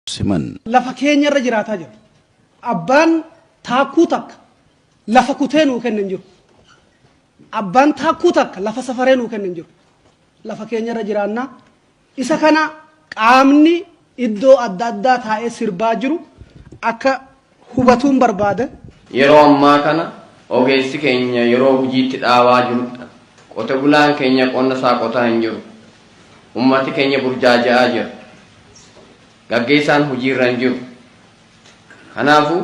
siman. Lafa keenya irra jiraataa jirra. Abbaan taakkuu takka lafa kutee nuu kenne hin jiru. Abbaan taakkuu takka lafa safaree nuu kenne hin jiru. Lafa keenya irra jiraannaa. Isa kana qaamni iddoo adda addaa taa'ee sirbaa jiru akka hubatuun barbaada. Yeroo ammaa kana ogeessi keenya yeroo hujiitti dhaabaa jirudha. Qote bulaan keenya qonna isaa qotaa hin jiru. Ummati keenya burjaaja'aa jira. Gaggeessaan hujiirra hin jiru. Kanaafuu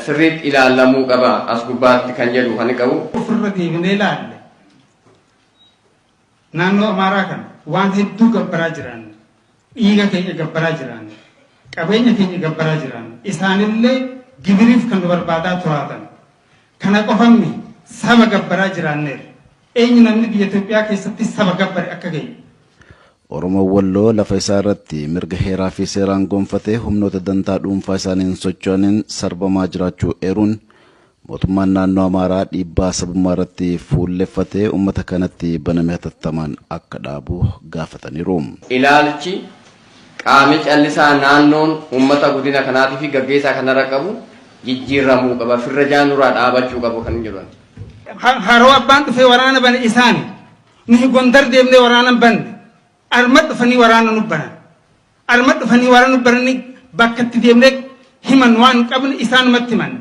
sirriitti ilaallamuu qaba as gubbaatti kan jedhu kan qabu. Ofirra deebinee ilaalle. Naannoo Amaaraa kana waan hedduu gabbaraa jiraan, dhiiga keenya gabbaraa jiraan, qabeenya keenya gabbaraa jiraan, isaanillee gibiriif kan nu barbaadaa turaatan. Kana qofa miti saba gabbaraa jiraanneerra. Eenyu namni biyya Itoophiyaa keessatti saba gabbare akka keenya? Oromoon Walloo lafa isaa irratti mirga heeraa fi seeraan gonfatee humnoota dantaa dhuunfaa isaaniin socho'aniin sarbamaa jiraachuu eeruun Mootummaan Naannoo Amaaraa dhiibbaa sabummaa irratti fuulleffate uummata kanatti baname hatattamaan akka dhaabu gaafataniiru. Ilaalchi qaami callisaa naannoon uummata godina kanaatiifi gaggeessaa kanarra qabu jijjiirramuu qaba, firrajaa nurraa dhaabachuu qaba kan jedhan. Haroo Abbaan dhufee waraana bane isaani. Nuhi Gondar deemnee waraana hin banne. Arma dhufanii waraana nu banan. Anuma dhufanii waan nu baranii bakka itti deemne himan waan qabne isaanumatti himan.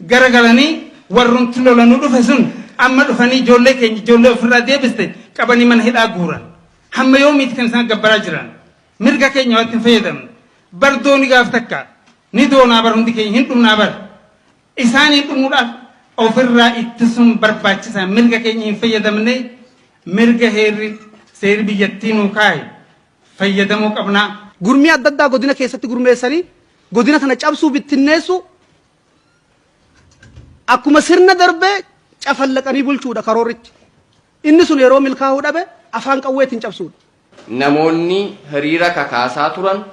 Gara galanii warrumti lola nu dhufe sun amma dhufanii ijoollee keenya ijoollee ofirraa deebiste qabanii mana hidhaa guuran. Hamma yoomiiti kan isaan gabbaraa jiran? Mirga keenya waatti hin fayyadamne. Bar dooni gaaf takka ni doonaa bar hundi keenya hin dhumnaa bar. Isaanii dhumuudhaaf ofirraa ittisuun barbaachisaa mirga keenya hin fayyadamne mirga heerri seerri biyyattii nuu kaahe fayyadamuu qabna. Gurmii adda addaa godina keessatti gurmeessanii godina kana cabsuu, bittinneessuu akkuma sirna darbee cafallaqanii bulchuudha karoorrichi. Inni sun yeroo milkaa'uu dhabe afaan qawweetiin cabsuudha. Namoonni hiriira kakaasaa turan